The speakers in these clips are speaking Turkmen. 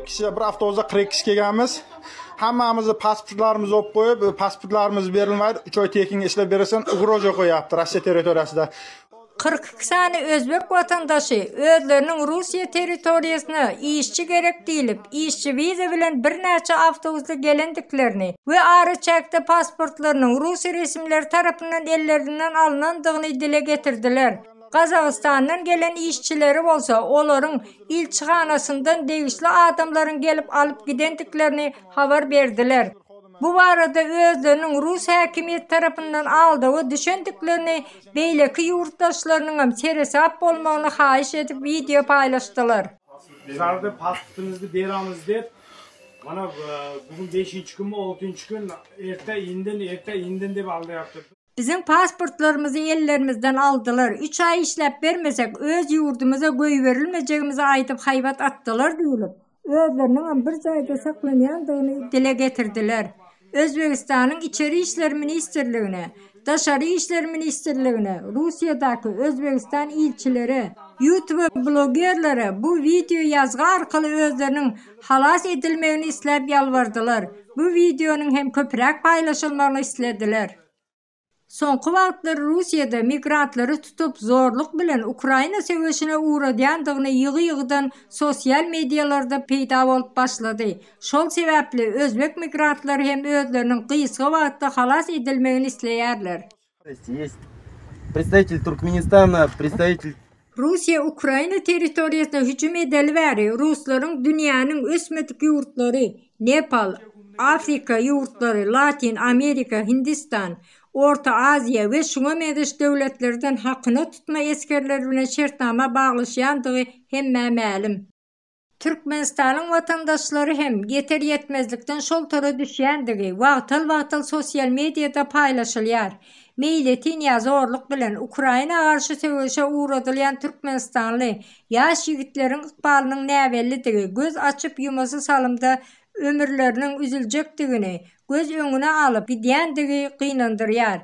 Kyrk kişi, bir avtobusda kyrk kişi gelgenmiz. Hammamyzy pasportlarymyzy op koyup, pasportlarymyzy berilmedi. Üç ay tekin işlep beresen, ugroja koyaptı Rusiya territoriyasida. 42 sany özbek watandaşy özleriniň Russiýa territoriýasyna işçi gerek diýlip, işçi wiza bilen birnäçe awtobusda gelendiklerini we araçäkde pasportlarynyň rus resmileri tarapyndan ellerinden alnandygyny dile getirdiler. Gazagystandan gelen işçileri bolsa olaryň ilçihanasyndan degişli adamlaryň gelip alyp gidendiklerini habar berdiler. Bu barada özleriniň rus häkimiýeti tarapyndan aldawa düşendiklerini, beýleki ýurtdaşlarynyňam seresap bolmagyny haýyş edip wideo paýlaşdylar. Şarda passportyňyzdy beraňiz dep mana bu gün beşinji günmi altynjy gün erte inden erte inden dep aldaýapdyr. Biziň pasportlarymyzy ellerimizden aldylar, üç aý işläp bermesek, öz ýurdumyza goýberilmejegimizi aýdyp haýbat atdylar diýlip, özleriniňem bir jaýda saklanýandygyny dile getirdiler. Özbegistanyň Içeri işler ministrligine, Daşary işler ministrligine, Russiýadaky Özbegistan ilçilere, ýutube blogerlere bu wideo ýazgy arkaly özleriniň Halas edilmegini isläp ýalbardylar. Bu wideonyň hem köpräk paýlaşylmagyny islediler. Soňky wagtlar Russiýada migrantlary tutup, zorluk bilen Ukraina söweşine ugradýandygyny ýygy-ýygydan sosial mediýalarda peýda bolup başlady. Şol sebäpli özbek migrantlary hem özleriniň gysga wagtda halas edilmegini isleýärler. Russiýa Ukraina territoriýasyna hüjüm edeli bäri ruslaryň dünýäniň ösmedik ýurtlary, Nepal, Afrika ýurtlary, Latin Amerika, Hindistan, Orta Aziýa we şuňa meňzeş döwletlerden hakyna tutma esgerleri bilen şertnama baglaşýandygy hemmä mälim. Türkmenistanyň watandaşlary hem ýeter-ýetmezlikden şol tora düşýändigi wagtal-wagtal sosial mediýada paýlaşylýar. Meýletin ýa zorluk bilen Ukraina garşy söweşe ugradylýan türkmenistanly ýaş ýigitleriň ykbalynyň näbellidigi göz açyp-ýumasy salymda ömürleriniň üzüljekdigini göz öňüne alyp gidýändigi gynandyrýar.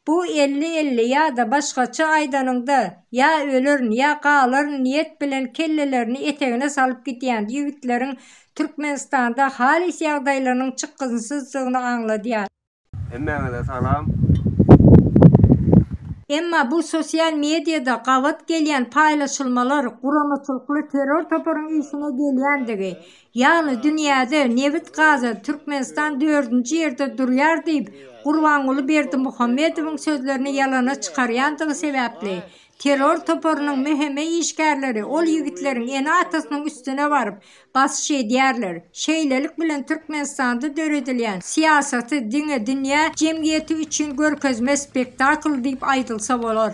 Bu elli-elli ýa-da başgaça aýdanyňda, ýa ölerin, ýa galaryn niýet bilen kellelerini etegine salyp gidýän ýigitleriň Türkmenistanda halys ýagdaýlarynyň çykgynsyzdygyny aňladýar. Hemmäňize salam. Emma bu sosial mediada gabat gelýän paýlaşylmalar guramaçylykly terror toparyň işine gelýändigi, Ýagny dünýäde nebit-gaza Türkmenistan dördünji ýerde durýar diýip, Gurbanguly Berdimuhamedowyň sözlerini ýalana çykarýandygy sebäpli, terror toparynyň mhme işgärleri ol ýigitleriň ene-atasynyň üstüne baryp, basyş edýärler. Şeýlelik bilen Türkmenistanda döredilýän syýasaty diňe dünýä jemgyýeti üçin görkezme spektakl diýip aýdylsa bolar.